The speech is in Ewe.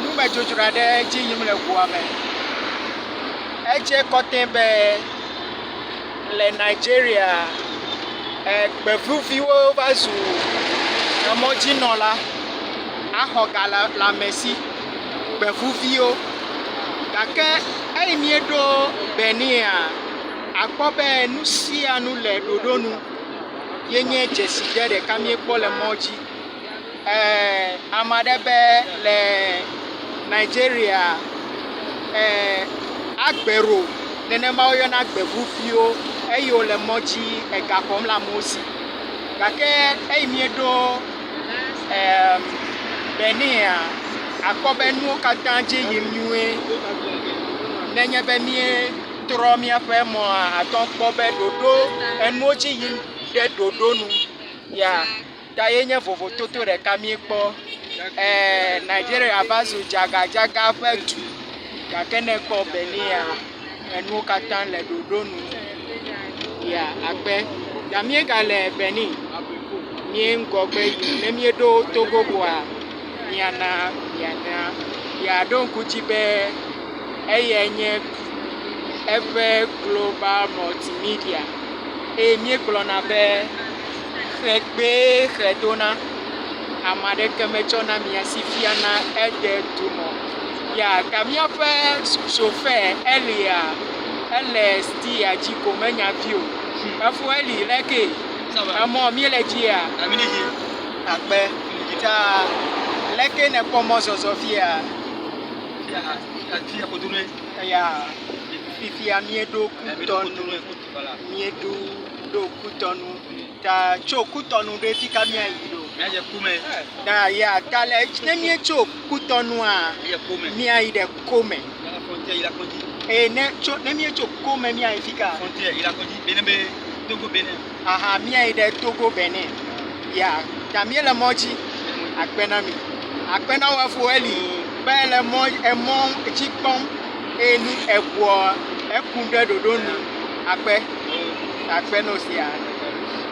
Numedzodzro aɖe edzi yim le ŋua me. Edze kɔtɛ be le Nigeria e gbevuviwo va zu emɔdzinɔla axɔ ga le lãmesi. Gbevuviwo gake eyi míeɖo Benia akpɔ be nu sia nu le ɖoɖo nu. Yenye dzesi ɖe ɖeka míekpɔ le mɔ dzi. Ame aɖe be le Nigeria, Agbero, nenema woyɔna gbeŋu viwo eyi wole mɔ dzi ega xɔm le amewo si. Gake eyi mieɖo Benia, akpɔ be nuwo katã dze yim nyuie. Ne nye be míetrɔ míaƒe mɔa, àte ŋu akpɔ be ɖoɖo, enuwo dzi yim ɖe ɖoɖo nu ya. Ta ye nye vovototo ɖeka míekpɔ, ɛɛ Nigeria va zu dzagadzaga ƒe du. Gake ne èkpɔ Benia, enuwo katã le ɖoɖo nu. Ya akpe. Ya míegale Benin, míe ŋgɔgbe yim. Ne míeɖo Togo koa, míana mianya. Ya ɖo ŋku dzi be eyae nye eƒe global mɔltimedia. Eye míegblɔna be. Xe gbee xe dona, ame aɖeke metsɔna mia si fiana ede dumɔ. Ya ta míaƒe sofɛ Elia, ele stiya dzi ko menya vi o. Efo Eli lé kee. Emɔ míele dzia? Aminihi akpe ta leke nekpɔ mɔ zɔzɔ fia? Fia fia kodonoe. Ya fifia míeɖo kutɔ nu. Míeɖo ɖo kutɔnu ta tso kutɔnu ɖo fi ka mía yi ɖo? Mía dze kome. Ta ya ta le ne mía tso kutɔnua. Mía kome. Mía yi ɖe kome. Mía la fɔntia yi la kɔdzi. Ee ne tso ne mía tso kome mía yi fi ka? Fɔntia yi la kɔdzi bene be Togo bene. Aha mía yi ɖe Togo bene. Ya ta mía le mɔ dzi. Akpe na mi. Akpe na wɔ fo eli. Be le mɔ emɔ dzi kpɔm. Eye nu ebuɔ eku ɖe ɖoɖonu akpe akpe no sia.